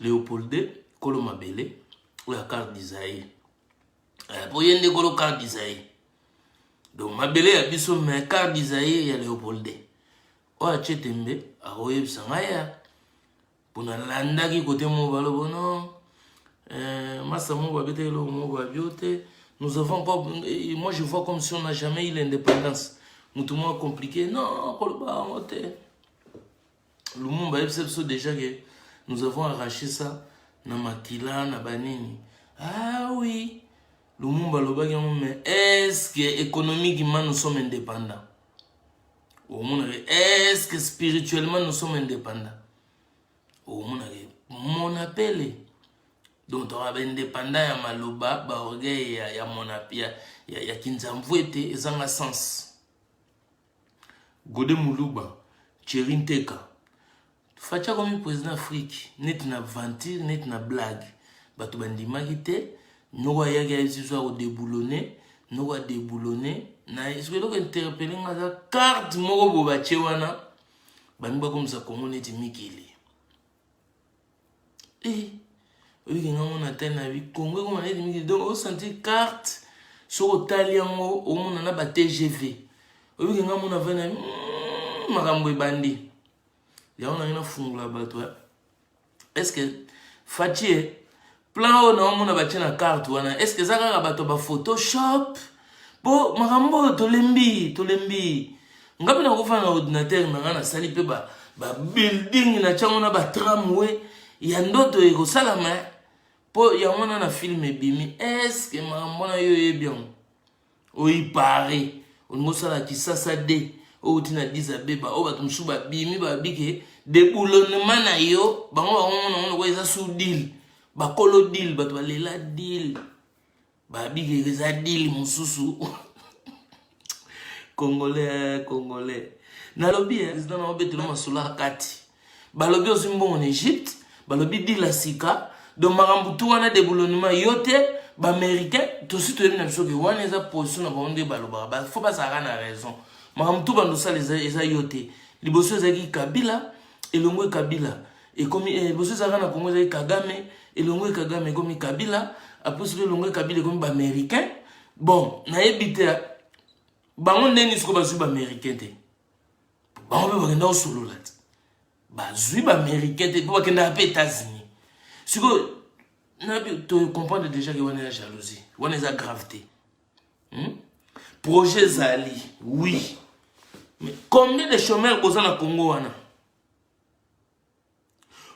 Leopolde kolo mabele oyo ya carte d'Isaïe eh, po ye nde kolo carte d'Isaïe donc mabele ya biso mais carte d'Isaïe ya Leopolde oyo atie tembe akoyebisa ngai ya mpo nalandaki kote moko balobo no eh, masa moko babeta eloko moko babio te nous avons encore eh, moi je vois comme si on n'a jamais eu l'indépendance motu moko compliqué non koloba yango te Lumumba ayebisa biso deja ke nous avons arraché ça na makila na banini ah oui lumumba alobaki yango mais est ce que économiquement nous sommes indépendants omonaka est ce que spirituellement nous sommes indépendants omonaka mon appel donc toka baindépendant ya maloba baorgueil ya, ya, ya, ya, ya kinzamvu ete ezanga sens Gode Muluba, Thierry Nteka. Fatshi akomi président Afrique neti na aventure neti na blague. Bato bandimaki te noko ayaki ayesiso ya kodebuloner noko adebuloner na esoki eloko interpele nga aza carte moko bobatie wana bangi bakomisa kongo neti mikili Eh, oyiki nga mona tali na bi kongo ekoma neti mingi donc osantir carte soki otali yango omona na ba tgv oyiki nga mona vai na hmm, makambo ebandi yango nange nafungola bato eh. estce facie Plan oyo naomona batie na carte wana eske eza kaka bato ya bafotoshop mpo makambo oyo tolembi tolembi nga mpe nakofana na ordinatere na ngai nasali mpe babuilding na tiango na batramwe ya ndoto ekosalama mpo yango wana na filme ebimi eske makambo wana yo oyebi yango oipare olingi osala kisasa de outi na disabeba oyo bato mosusu babimi babi ke deboulonnement na yo bango bango nango lokola eza sous dile bakolo dile bato balela dile babi ke eza dile mosusu congolais congolais nalobi eh, president na obetela masolo ya kati balobi ozwi mbongo na egypte balobi dila sika donc makambo tu wana deboulonnement yo te baaméricain tosi toyebi na biso ke wana eza position na bango nde balobaka bafo bazalaka na raison makambo tu bando osala eza yo te liboso ezalaki kabila elongwe kabila ekomi eh, liboso ezalaka na kongo ezalaki kagame elongwe kagame ekomi kabila apres soki elongwe kabila ekomi baaméricain bon nayebi te bango ndenge siko bazwi baaméricain te bango mpe bakenda kosolola te bazwi baaméricain te mpe bakendaka mpe états-unis sikoyo tocomprendre déjà ke wana ya jalousie wana eza grave te hmm? projet ezali oui mais combien de chômeur boza na congo wana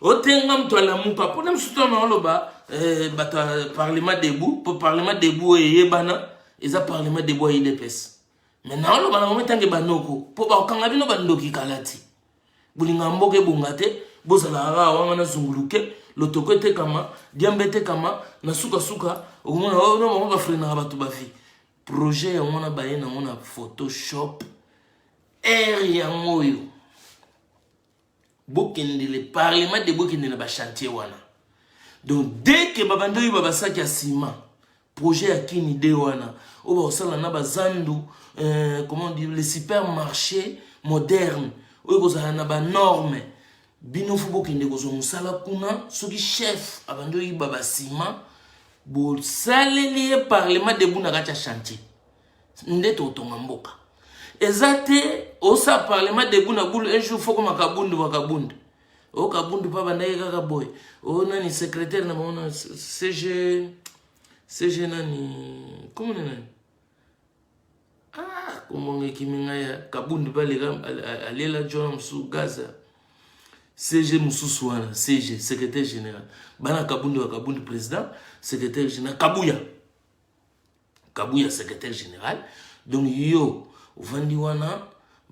otenga moto alamuka mpo na mosusu tana oloba eh, bato ya parlement debout mpo parlement debout oyo eyebana eza parlement debout ya idps me na oloba na bango etange banoko mpo bakokanga bino bandoki kala ti bolinga mboka ebonga te bozalaka kaka wanga na zunguluke lotoko etekama diamba etekama na sukasuka okomona oh, na bango bafrenaka bato bavi projet yango na baye nango na photoshop ere yango oyo bokende le parlement de bokende na bachantier wana donc dès que babandi oyeba basaki ya nsima projet ya kini de wana oyo bakosala na bazandu euh, comment dire le supermarché moderne oyo ekozala na banorme bino fo bokende kozwa mosala kuna soki chef abandi oyiba basima bosaleli ye parlement debu na kati ya chantier nde totonga mboka eza te osa parlement debout na boule un jour foko makabundu makabundu o oh, kabundu mpe abandaki kaka boye o oh, nani secrétaire na bango na cg cg nani komona nani ah komonga ekimi ngai ya kabundu mpe aleka alela jona mosusu gaza cg mosusu wana cg secrétaire général bana kabundu ya kabundu président secrétaire général kabuya kabuya secrétaire général donc yo ovandi wana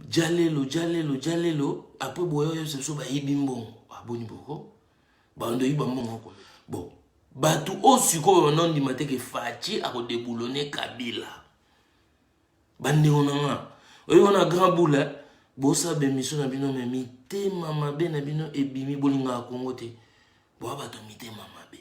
jalelo jalelo jalelo apres boya oyo biso bayibi mbongo aboni boko bando oyiba mbongo bon bato oyo sikoyo banondima te ke faci akodeboulone kabila bandeko na nga oyo wana grand boule eh? bosa bemission na bino me mitema mabe na bino ebimi bolingaka kongo te boya bato mitema mabe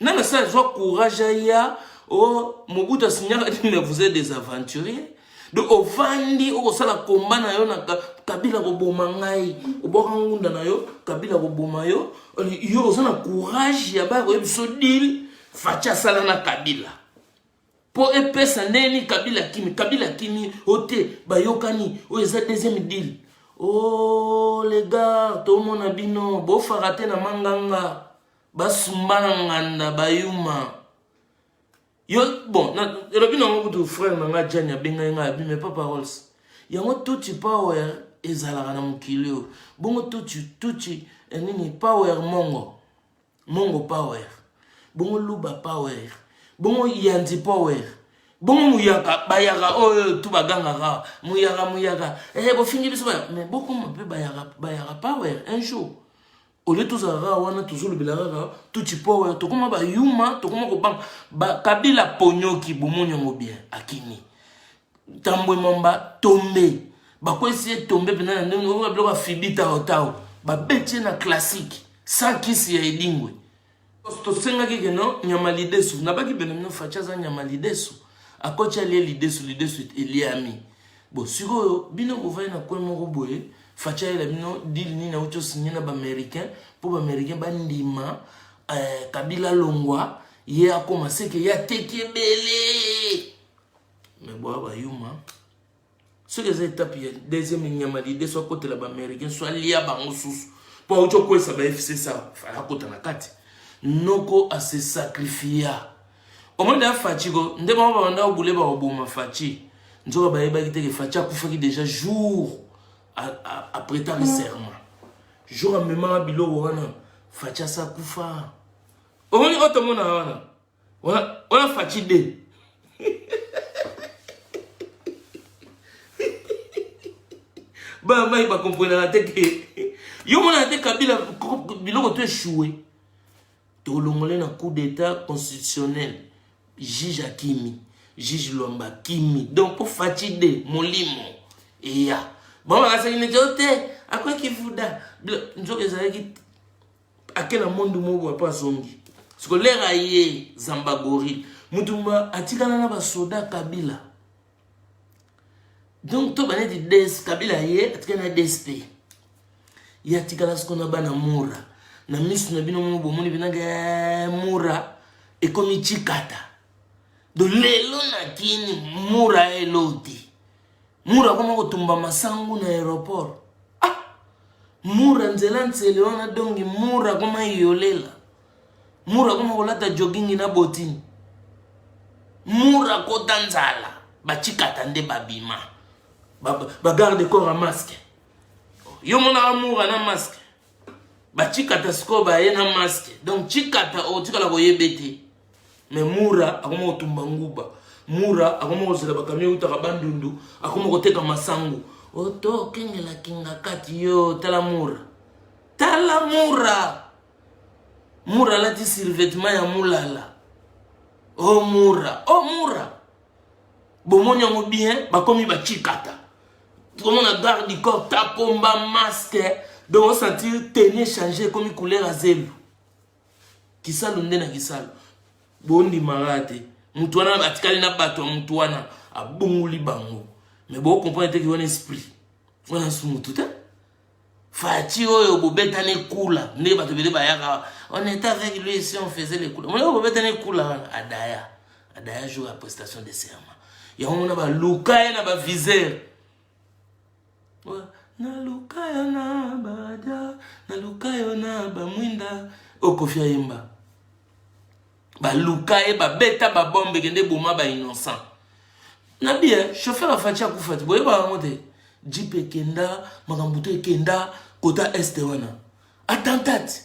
nana sa zwa courage aya o oh, mobutu asignaka nini mais vous êtes des aventuriers donc ovandi okosala komba na yo na kabila koboma ngai obwaka ngunda na yo kabila koboma yo yo oza na courage ya baya koyebi so dile faci asala na kabila mpo epesa ndenge nini kabila akimi kabila akimi o te bayokani oyo eza deuxième deal o oh, legar tomona bino bofaka te na manganga basumba na nganda bayuma yo bon elobi nango kutu frère na ngai jani abengai ngai abi mais pas paroles yango tuti power ezalaka na mokili oyo bongo tuti tuti eh, nini power mongo mongo power bongo luba power bongo yanzi power bongo muyaka bayaka oyo oh, eh, tu bagangaka muyaka muyaka hey, eh, bofingi biso me bokoma mpe bayaka, bayaka power un jour olie tozala kaka wana tozolobela kaka tuti power tokoma bayuma tokoma kobanga kabila ponyoki bomoni yango bien akimi tambwe mamba tombe bakwesi ye tombe mpenza na ndenge oyo biloko afibi taotao babeti ye na classique sans kisi ya edingwe tosengaki keno nyama lidesu nabaki benomino faci aza nyama lidesu akoti alie lidesu lidesu eliami bo sikoyo bino bovai na kwe moko boye faci ayela bino dile nini auti osigne na baaméricain mpo baaméricain bandima eh, kabila longwa ye akoma seke ye ateki ebele mais boa ba yuma soki eza etape ya deuxième nyama lide so akotela baaméricain so alia bango susu mpo auti okwesa ba fcc fala akota na kati noko ase sacrifia omoni da faci ko nde bango babanda obule bakoboma faci nzoka bayebaki teke faci akufaki déjà jour apretaki serment jour amemaka biloko wana faci asa kufa omoni oyo tomonaka wana Ola Fatshi de. Ba mai ba comprendre la tête. Yo mona te Kabila biloko to échoué. To longolé na coup d'état constitutionnel. Juge Akimi, juge Lomba Kimi. Donc pour Fatshi de Molimo. Et ya. Bon, bah, c'est une idiote. Après qui vous da. Nzoka ezalaki ake na monde moko boye mpo azongi siko lere aye zambagori mutu atikala na basoda kabila donc to baneti des kabila aye atikala na dsp ye atikala siko na bana mura na misu na bino moko bomoni binanga eh, mura ekomi cikata do lelo na kini mura eloti mura akoma kotumba masangu na aéroport ah! mura nzela nsele wana dongi mura akoma yolela mura akoma kolata jogingi na botini mura akota nzala bacikata nde babima bagarde ba corps ya maske yo monaka mura na maske bacikata sikoyo baye na maske donc cikata otikala koyebe te mais mura akoma kotumba nguba mura akoma kozela bakamio eutaka bandundu akoma koteka masangu oto okengela kingakati yo tala mura tala mura mura alati survetement ya mulala o oh, mura o oh, mura bomoni yango bien bakomi bacikata tokomona garde du corps tapomba masque donc osentir teni echange ekomi couleur ya zelu kisalu nde na kisalu bondimaka te motu wana atikali na bato ya motu wana abongoli bango me bokomprendre teke wana esprit wana su motu te faci oyo bobetani ekula nde bato ebele bayaka on est avec lui si on faisait le kula moleko bobetani ekula wana adaya adaya jour ya prestation de serment yango mona baluka ye na baviseur naluka yo na bada naluka yo na bamwinda oyo kofi ayemba baluka ye babeta babombe kende boma ba innocent na bia chauffeur afaci akufa ti boyeba yango te jip ekenda makambo to ekenda kota este wana attentat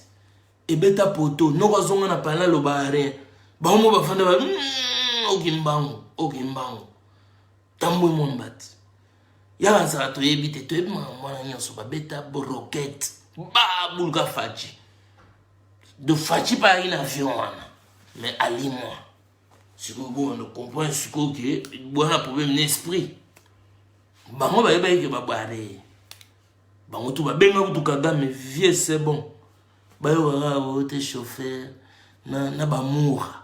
ebeta poto noko azonga na pala loba rien bango mo bafanda ba mm, okimbango okimbango tambwe mombati ya bansala toyebi te toyebi makambo wana nyonso babeta brokete babuluka faci de faci bayaki na avion wana mais alimwa sikoyo bwana comprendre sikoyo ke bwana problème na esprit bango bayebaki ke babware bango tu babenga kutu kagame vieux c'est bon bayokaka oyo te chauffeur na, na bamura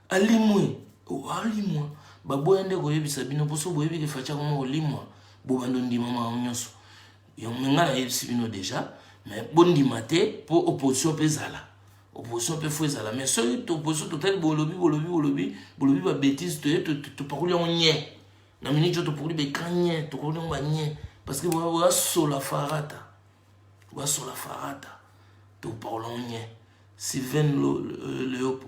alimwe alimwa baboya nde koyebisa bino mpo so boyebi ke faci akoma kolimwa bobanda ondima makambo nyonso yango ngai nayebisi bino deja mais bondima te mpo opposition mpe ezala opposition mpe fo ezala mais soki opposition totali bolobi bolobi bolobi bolobi babétise toye topakoli yango nye na miniti oyo topakoli beka nye tokoli yango banye parce que basola farata basola farata topakola yango nye sylvain leopo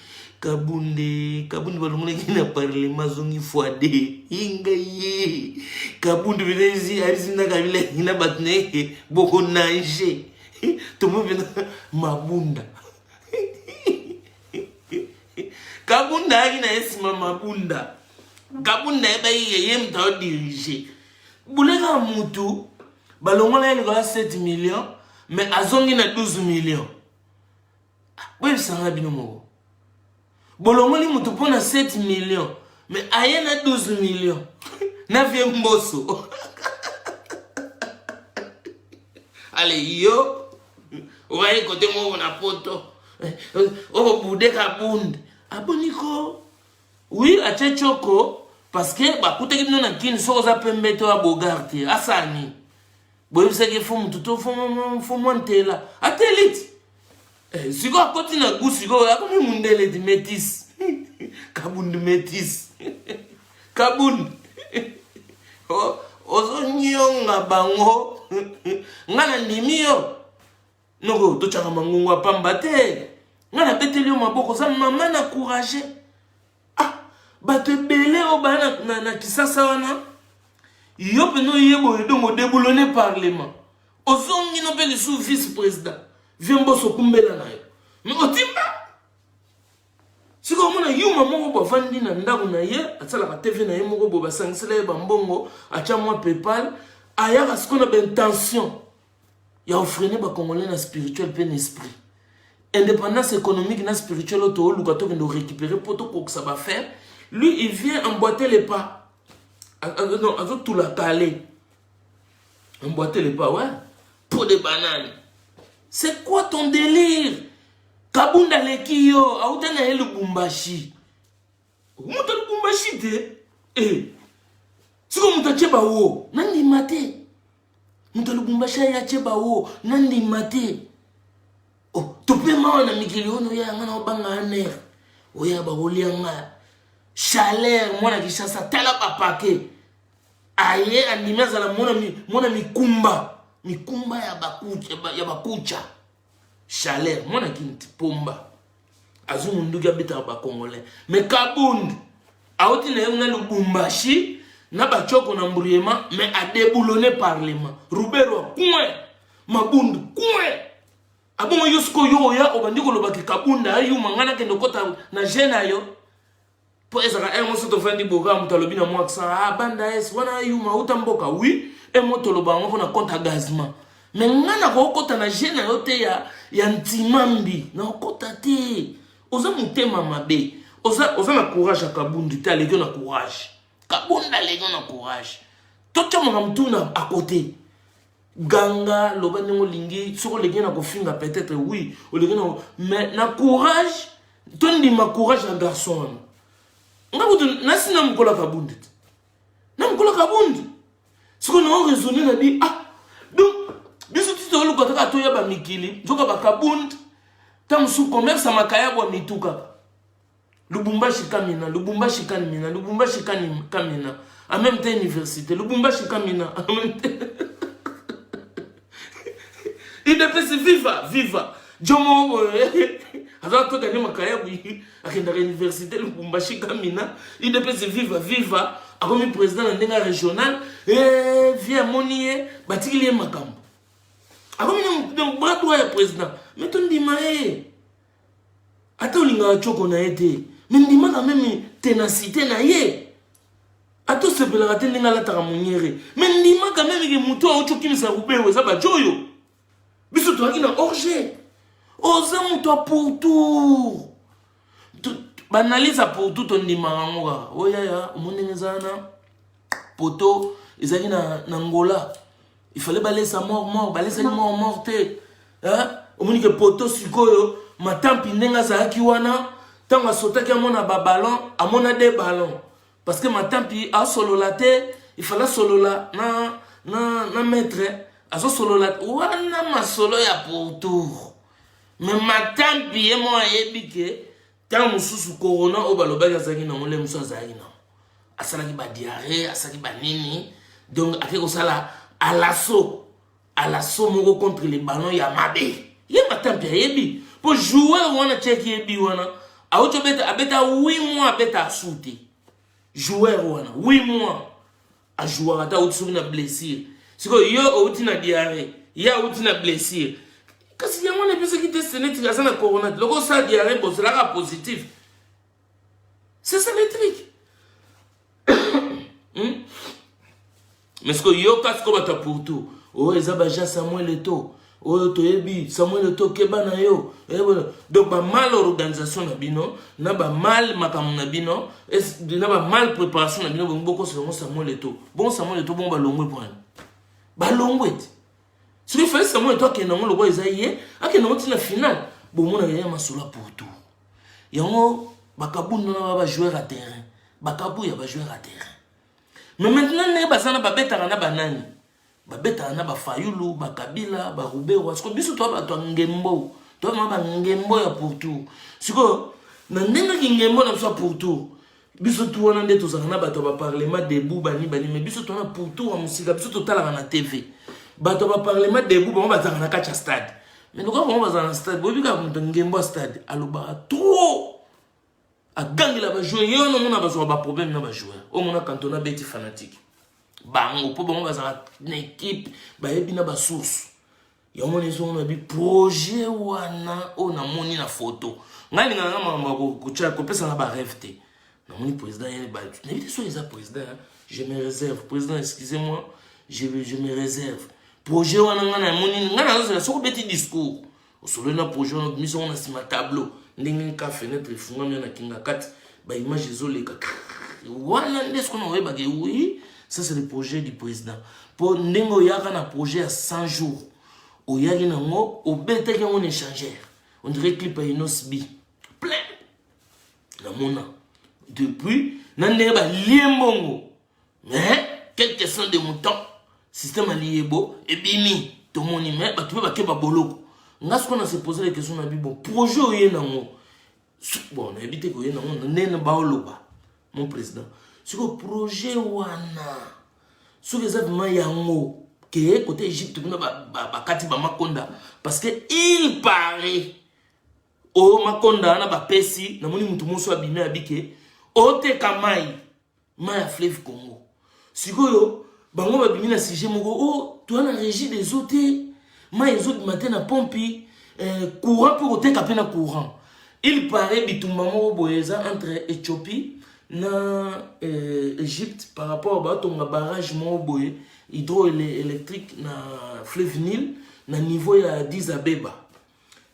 kabunde kabunde balongolaki na parlema azongi fwade inga ye kabunde mpenza alisi na kabila ye na bato na ye bokonange tomo mpenza mabunda kabunda ayaki na ye nsima mabunda kabunda ayebaki ye ye moto aodirige boleka motu balongola ye likolo ya 7 million mais azongi na 12 million boyebisa ngai bino moko bolongoli moto mpo na 7 million me aye na 12 million na vie mboso ale yo obaye kote moko na poto eh, okobude kabunde aboni ko wi atye coko parceke bakutaki bino na kini soki oza pembe to ya bogar te asani boyebisaki ye fo motu to fo mwa ntela ata eliti eh, sikoyo akoti na gu sikoyo akomi mundeleti metis kabund metis kabund ozonyonga bango ngai nandimi yo noko totyaka mangongo ya pamba te ngai nabeteli yo maboko oza mama na courage ah bato ebele oyo baya na, na, na kisasa wana yo mpenza oye boye dongo odeboulone parlement ozongi no mpe lisusu vice président vie mboso okumbela na yo me otimba sikoyo omona yuma moko bo avandi na ndako na ye asalaka tv na ye moko bo basangisela ye bambongo atya mwa paypal ayaka sikoyo na baintention ya ofrene ba congolais na spirituel mpe na esprit indépendance économique na spirituel oyo tooluka tokende orécupere mpo tokokisa bafere lui il vient emboite le pas non azotula kale emboite le pas ouais peau de banane c'est quoi ton délire kabunda aleki yo auta na ye lubumbashi moto ya lubumbashi te e eh. sikoyo moto atye bawo nandima te moto ya lubumbashi aya atye bawo nandima te oh, tope mawa na mikili oyo noya yanga na obanga aner oya bakolia nga chaleur mwana kishasa tala bapake aye andimi azala mwana mikumba mikumba ya bakucha chaleur mwana kinti pomba azwi munduki abetaka bacongolais mais kabund auti na ye kuna lubumbashi na bacoko na mbruyema mais adeboulone parlement rubero coin mabundu coin abongo yo sikoyo oya obandi kolobaki kabunda ayuma ngai nakende okota na je na yo po ezaka heure mosusu tofandi boka moto alobi na mwa accent ah banda es wana yuma uta mboka oui e mo toloba yango mpo na compte ya gazement me ngai nakokota na je na yo te ya, ya ntimambi nakokota te oza motema mabe oza, oza na courage ya kabundu te aleki na courage kabundu aleki na courage totyamaka motuna akote ganga loba ndenge olingi soki oleki na kofinga peut-être oui oleki na mais na courage tondima courage ya garçon wana nga kutu nasi na mokola kabundi te na mokola kabundi siko nao raisonne na bi ah donc biso ti toluka kaka toya bamikili nzoka bakabundi ta mosusu commerce ya makayabo ya mitu kaka Lubumbashi Kamina, Lubumbashi Kamina, Lubumbashi Kamina, en même temps université, Lubumbashi Kamina, en même temps. udps viva viva jomo eh, azala to gane makaya boyi akendaka université lubumbashi kamina udps viva viva akomi président na ndenge ya régional eh, vie amoni ye batikili ye makambo akomi na bras droit ya président me tondima ye ata olingaka coko na ye te me ndimaka meme tenacité na ye ata osepelaka te ndenge alataka monyere me ndimaka meme ke motu auti okimisa rubeo eza bajoyo biso tozalaki na orge oza moto ya pourtour baanalyse ya pourtour tondimaka yango kaka oyaya omoni ndenge eza wana poto ezalaki na, na ngola il fallait balesa mort mort balesaki mort mort te omoni ke poto sikoyo matampi ndenge azalaki wana ntango asotaki amona babalon amona de balon parce que matampi asolola te ifala asolola na, na, na maître azosolola wana masolo ya pourtour me matampi ye mo ayebi ke ntango mosusu corona oyo balobaki azalaki nango nde mosusu azalaki nango asalaki badiare asalaki banini donc ake kosala alaso alaso moko contre le ballon ya mabe ye matampi ayebi mpo joueur wana tiaki yebi wana auti obeta abeta 8 mois abeta asu te joueur wana 8 mois a jouaka ata auti soki na blessure sikoyo yo outi na diarrhée ye auti na blessure kasi yango wana epesaki test neti aza na corona te loko osala diarrhée bozalaka positif c'est ça le truc hmm? mais sikoyo yo kasi ko bato ya pourtout oyo oh, eza baja samuel eto oyo toyebi samuel to keba na yo eh, donc ba mal organisation na bino na ba mal makambo na bino na ba mal préparation na bino bongo bokosa yango samuel eto bongo samuel eto bongo balongwe mpo nani balongwe te soki fali samuel eto akende yango lokola eza ye akende yango ntina finale bomonaka ya masolo ya pourtour yango bakabunda na bajoueur ya terrain bakabu ya bajoueur ya terrain mais maintenant ndenge baza na babetaka na banani babetaka na bafayulu bakabila baruberwa sikoyo biso toa bato ya ngembo toa mwa bangembo ya pourtour sikoyo na ndenge kingembo na biso ya pourtour biso tu wana nde tozalaka na bato ya baparlement debout bani bani mai biso toana pourtour ya mosika biso totalaka na tv bato ya baparlement debout bango bazalaka na kati ya stade mai lokola bango bazala na stade boyebi kaka moto ngembo ya stade alobaka trop agangela bajoueur ye wana omona bazwaka baproblème na bajoueur omona kantona abeti fanatique bango mpo bango bazalaka na ekipe bayebi na basource yango wana ezongona bi projet wana oyo namoni na foto ngai lingana na makambo kotya kopesa na bareve te namoni président ye batu nayebi te soki eza président je me réserve président excusez moi je, je me réserve projet wana ngai namoni ngai nazozela soki obeti discours osololi na projet wana obimisi yango na nsima tableau ndenge nka fenetre efungami na kinga kati baimage ezoleka wana nde soki na oyebaka oui ça c'est le projet du président mpo ndenge oyaka na projet ya 100 jours oyaki nango obetaki yango na échangeur on dirait clip ya inos b plein namona depuis na ndenge balie mbongo mais quelle question de mouton système aliyebo ebimi tomoni mais bato mpe bakeba boloko nga sikoyo na se pose la question na bibo projet oye nango bon nayebi te koye nango ndene baoloba mon président sikoyo projet wana soki eza vraimen yango ke kote egypte kuna bakati ba, ba bamakonda parce que il paraît o makonda wana bapesi namoni motu moso abimi abike oteka mai mai ya fleuve congo sikoyo bango babimi na sujet moko o oh, toa na régie des eaux te mai ezobima te na pompi eh, courant mpe koteka mpe na courant il paraît bitumba moko boye eza entre ethiopie na eh, egypte par rapport batonga barrage moko boye hydroélectrique na fleuve nil na niveau ya 10 abeba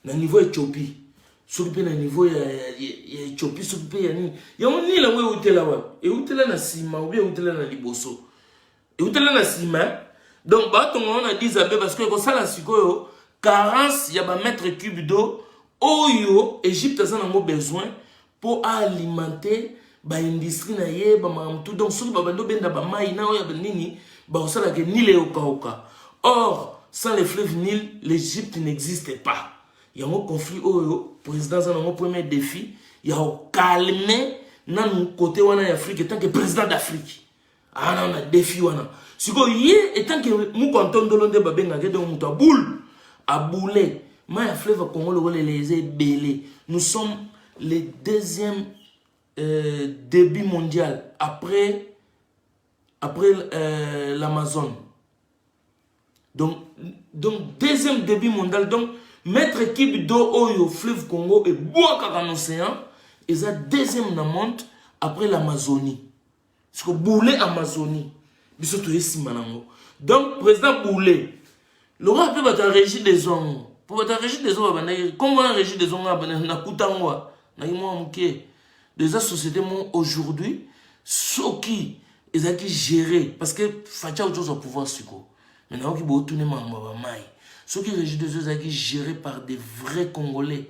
na niveau ya ethiopie soki mpe na niveau ya ethiopie soki mpe ya nini yango nini yango eutela wapi eutela na nsima obi eutela na liboso eutela na nsima eh? donc batonga yango na 10 abe parce que ekosala sikoyo carence ya bamètre cube do oyo egypte aza nango besoin mpo aalimente baindustrie na ye bamakambo tout donc soki babandi obenda bamai na oyo ya nini bakosalaka nile eokauka or sans le fleuve nile l'egypte n'existe pas yango conflit oyo président aza nango premier défi ya kokalme nanu kote wana ya afrique etanke président d'afrique ana na defi wana sikoyo ye etanke moko antondolo nde babengaka donc moto aboule aboule mai ya fleuve congo lokola eleza ebele nous sommes le deuxième euh, débit mondial après après euh, l'amazone donc donc deuxième débit mondial donc maître équipe d'eau oyo fleuve congo ebwakaka na océan eza deuxième na monde après l'amazonie siko boule amazonie biso toye nsima nango donc président boule lokola mpe bato ya régie des ongo mpo bato ya régie des ongo babandaki nkombo na régie des ongo nakuta ngo naki mwa moke eza société moko aujourd'hui soki ezalaki géré parce que fatia auti ozwa pouvoir sikoyo mais nayoki bootuni makambo ya bamai soki régie des eaux ezalaki géré par des vrais congolais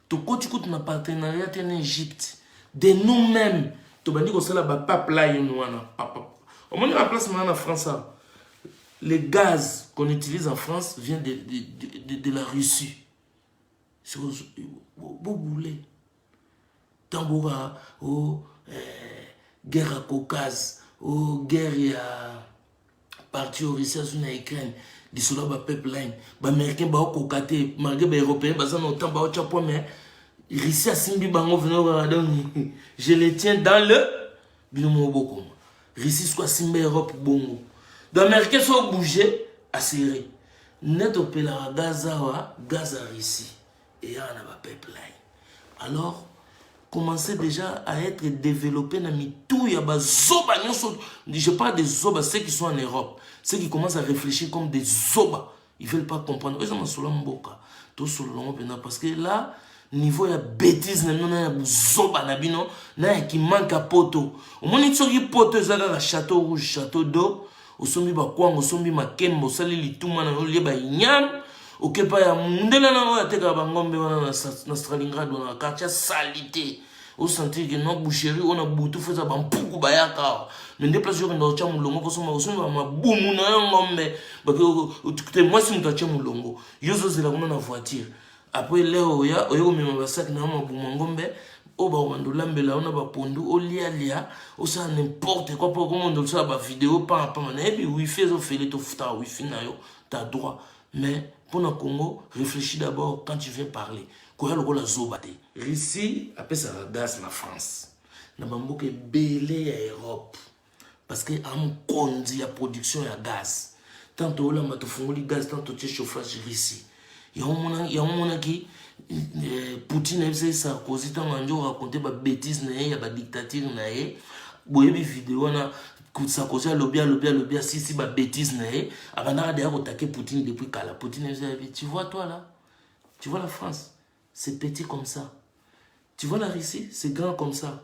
tokoti kutu na partenariat te na egypte de nous même tobandi kosala bapipeline wana papa omoni na place maa na france awa le gaz qu'on utilise en france vient de, de, de, de, de la russie bobule ntango boka o oh, eh, guerre ya caucase o oh, guerre ya parti oyo russie azwi na ukraine lisolo ya bapipeline baaméricain baokoka te malgre baeuropéen baza na otan baotya po mais russie asimbi bango vinokaa donc je le tiens dans le bino moko bokoma russie soko asimba europe bongo donc américain so obouge asere nde topelaka gaz awa gaz ya russie eyaka na ba pipeline alors commencer déjà à être développé na mitu ya bazoba nyonso je parle des zoba ceux qui sont en europe ceux qui commencent à réfléchir comme des zoba ils veulent pas comprendre eza masolo ya mboka tosolola yango mpenza parce que là niveau ya bétise na bino na ya buzoba na bino na ya kimanka poto omoni soki poto eza kaka château rouge château d'eau osombi bakwanga osombi makemba osali lituma na yo olie bainyan oke epai ya mondele na oyo atekaka bangombe wana na stralingrad wana quartier salite osentir ke no boucherie oyo na butu fo eza bampuku bayaka awa me nde place okenda otya molongo kosomba kosomba mabumu na yo ngombe te mwasi moto atye molongo yo ozozela kuna na voiture apres leo oya oye komema basaki na yo mabuma ngombe oyo bakomanda olambela yo na bapondu olialia osala nimporte kua mpo okomanda osala bavideo pamapama nayebi wifi ezofele tofutaka wifi na yo ta droit mais mpo na congo réfléchis d'abord quand tu viens parler koya lokola zoba te russie apesaka gaz na france na bamboka ebele ya europe parce que a mokonzi ya production ya gaz ntango toyolamba tofungoli gaz ntango totie chauffage russie yango omonaki eh, poutine ayebisaki sarkozy ntango andi oraconte babétise na ye ya badictature na ye boyebi video wana sarkozy alobi alobi alobi asisi babétise na ye abandaka deya kotake poutine depuis kala poutine ayebisaki tu vois toi là tu vois la france c'est petit comme ça tu vois la russie c'est grand comme ça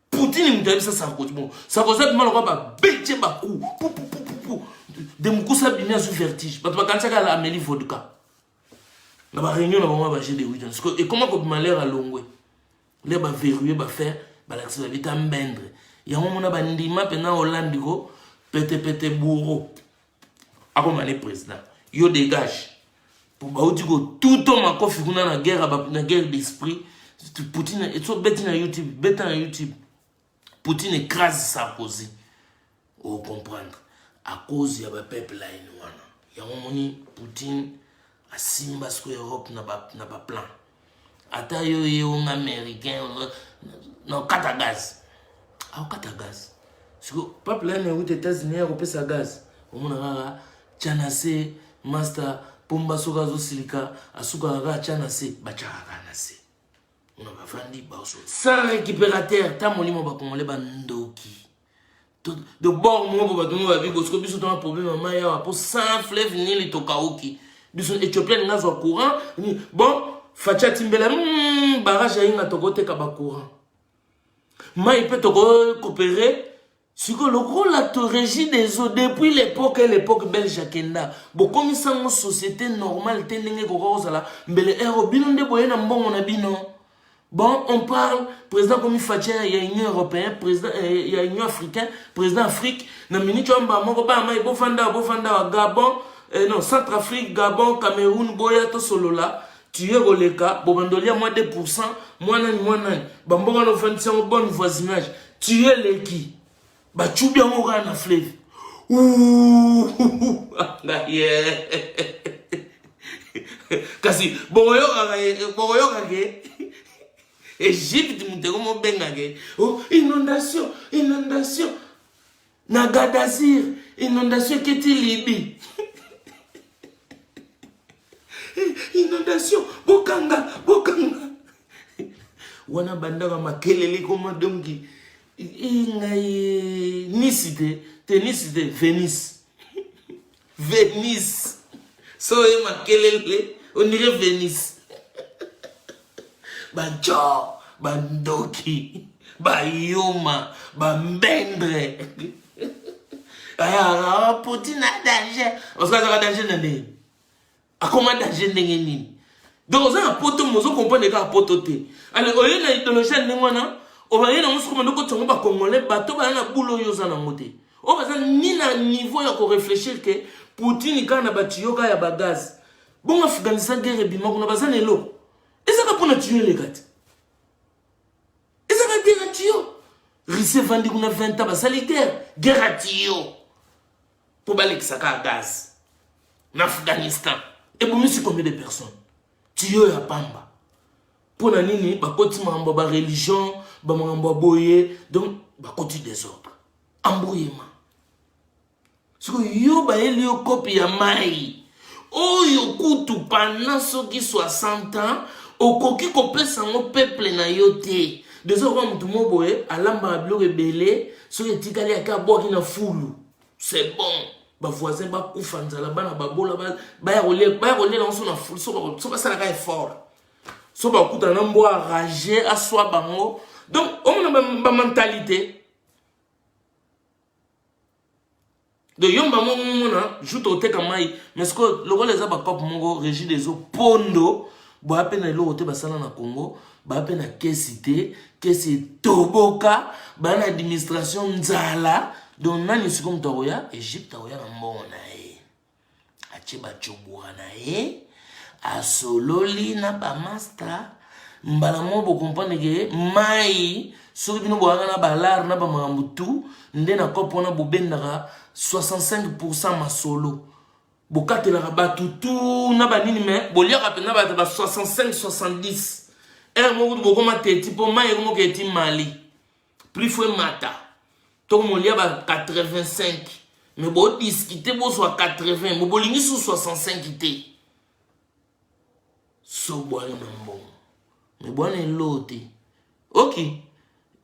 Poutine moto ayebisa Sarkozy bon Sarkozy abima lokola babetje baku pupupupupu de mokusa abimi azwi vertige bato bakanisaka ala ameli vodka na bareunion na bango ya baje de witons sikoyo ekoma kobima lere alongwe le baverrouille bafaire balakisa babita mbendre yango mona bandima mpena olandi ko petepete bouro akoma ne president yo dégage po bauti kotuto makofi kuna na guerre na guerre d'esprit poutine so beti na youtube beta na youtube poutine écrase sarkozy ocomprendre à cause ya bapipeline wana yango moni poutine asimba siko europe na baplan ba ata yo ye onga américain na okata gaz aokata gaz siko peuple ene euti états-unis ya kopesa gaz omona kaka tya na se master pomba soki azosilika asukaka kaka tya na se batyaka kaka na se mona bafandi baoso sans récupérateur ta molimo bakongole bandoki de bord moko bato moko babi bosiko biso tona problème ya mai awa mpo sans fleuve nili tokauki biso ethiopia linga azwa courant bon faci atimbela hmm, barrage ayinga tokoteka bacourant mai mpe tokokopere sikoyo lokola to régie des eaux depuis l'époque e l'époque belge akenda bokomisa yango société normale te ndenge ekoka kozala mbele ero bino nde boye na mbongo na bino Bon, on parle, président comme Fatshia, il y a Union européenne, président, euh, il y a Union africaine, président Afrique, na minute on ba moko ba mai bo fanda bo fanda Gabon, euh, non, Centrafrique, Gabon, Cameroun, boya to solola, tu es goleka, bo bandolia moins 2%, moins nani moins nani, ba mboka no fandi sango bon voisinage, tu es leki. bacubi yango kaka na fleve kasi bokoyokaka eh, eh, egypte moto eko mobengaka eh. oh, inondation inondation na gadasir inondation eketi libi inondation bokanga bokanga wana bandaka makelele koma donki ngai nisi te te nisi te venise venise so oye makelele ondire venise bajo bandoki bayuma bambendre ayaka potina danger osikazaka danger na nini akoma danger ndenge nini donc oza na poto mais ozo comprendre kaka poto te alors oye na idéologie ya ndenge wana obaye nango soki omanda okotisa yango bacongolais bato baya na bula oyo oza nango te oyo baza ni na niveau ya koreflechir ke poutine kaka na batiyo kaka ya bagaz bongo afghanistan guerre ebima kuna baza na eloko ezaka mpo na tiyo eleka te eza na guerre ya tiyo rise evandi kuna 20 ans basali guerre guerre ya tiyo mpo balekisaka gaz na afghanistan ebomisi combien de personnes tiyo ya pamba mpo na nini bakoti makambo ya bareligion bamakambo ya boye donc bakoti desordre embrouillement siko yo bayeli yo kopi ya mai oyo kutu pendant soki 60 ans okoki kopesa yango peuple na yo te dezo okoka motu mo boye alambaka biloko ebele soki etikali ake abwaki na fulu c'est bon bavoisin bakufa nzala bana babola baya kolela yango so na fulu so basalaka effort so bakutana na mbwa rage aswa bango donc omona bamentalité ba donc yo mbango omona jour tokoteka mai mais sikoyo lokola eza bacope moko régi des eaux pondo baya mpe na eloko te basala na congo baya mpe na kesi te kesi etoboka baya na administration nzala donc nani sikoyo moto akoya egypte akoya na mbongo na ye atie bacobora na ye asololi na bamasta mbala moko bokomprendre ke mai soki bino boyaka na balare na bamakambo tu nde na kope wana bobendaka 65 pourcent masolo bokatelaka bato tu na banini me boliaka mpenza bato ba 65 70 ere moko kutu bokoma teti mpo mai ekomoka eti mali prix fo emata to molia ba 85 mais bodiscute bozwa 80 mo bolingi su 65 te so bwana na mbongo me bwana eloo te ok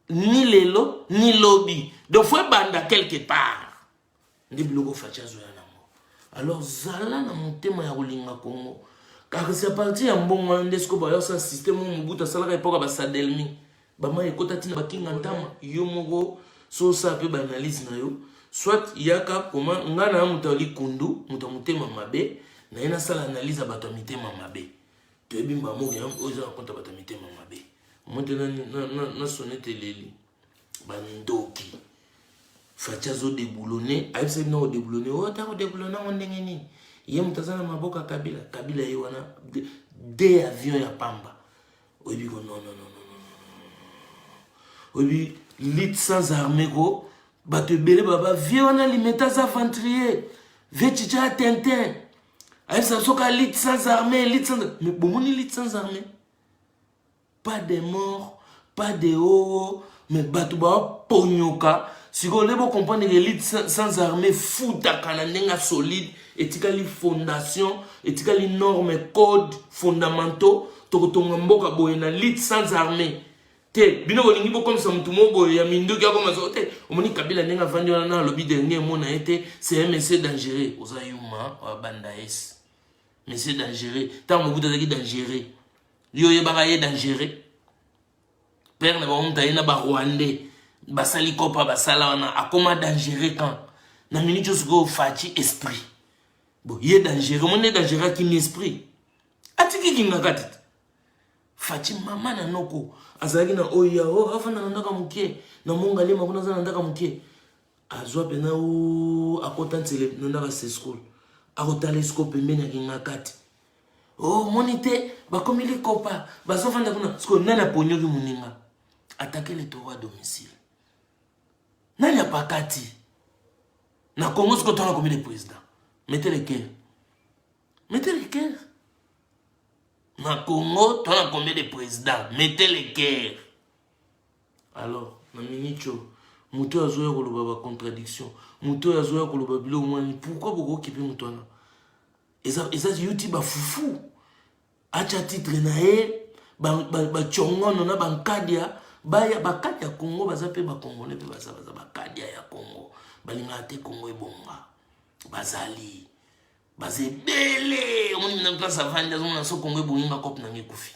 ni lelo ni lobi donc fo ebanda quelque part nde biloko faci azoya nango alors zala na motema ya kolinga kongo kasi apartir ya mbongo wana nde sikoyo bayosala systeme oyo mobutu asalaka epoka basadelmi bamai ekota ntina bakinga ntama yo moko so osala mpe baanalyse na yo soit yaka koma ngai na ya moto ya likundu moto ya motema mabe naye nasala analyse ya bato ya mitema mabe toyebi mbamoko yango oyo eza na konta bato ya mitema mabe moto nasone te leli bandoki faci azodeblone ayebisaki nao deblone oyo ntango deblone yango ndenge nini ye moto aza na maboko ya kabila kabila ye wana de avion ya pamba oyebi ko nononono oyebi lit sans arme ko bato ebele baba vie wana limeta aza aventurier vie cica ya tintin ayebisa soki alit sans arme lit sans bomoni lit sans arme pas de mort pas de oo mais bato baponyoka sikoyo nde bocomprendre elite sans armée futaka na ndenge ya solide etikali fondation etikali norme code fondamentaux tokotonga mboka boye na lite sans armée te bino bolingi bokomisa motu moko boye ya minduki akoma soko te omoni kabila ndenge avandi wana na alobi dernier mot na ye te c'est un monsieur dangereux oza yuma oya bandaes monsieur dangereux ntango mobutu azalaki dangereux yo oyebaka ye dangereux père na bango moto aye na barwandais basali kopa basala wana akoma dangereux quand na minute oyo sikoyo faci esprit bo ye dangereux moni ye dangereux akimi esprit atiki kingaka te faci mama na noko azalaki na oyo ya o oh, afanda na ndaka moke na mongalema kuna aza na ndaka moke azwa mpena o akota nsele na ndaka seschool akotala esiko pembeni ya kingakati oh moni te bakomi likopa bazofanda kuna sikoyo nani aponyoki moninga atake le toro a domicile nani apakati na congo sikoyo ntango akomi le président mete le cœur mete le cœur na congo to na combien de président mete le cœur alors na minicho moto oyo azoya koloba bacontradiction moto oyo azoya koloba biloko mwani pourkui bokokipe moto wana eza eza yuti ba fufu acha titre na ye bacongono na bankadia baya bakati ya congo baza mpe bakongole mpe baza baza bakadia ya congo balingaka te congo ebonga bazali baza ebele omoni na place avandi azomona so congo ebongi nga cope nange ekufi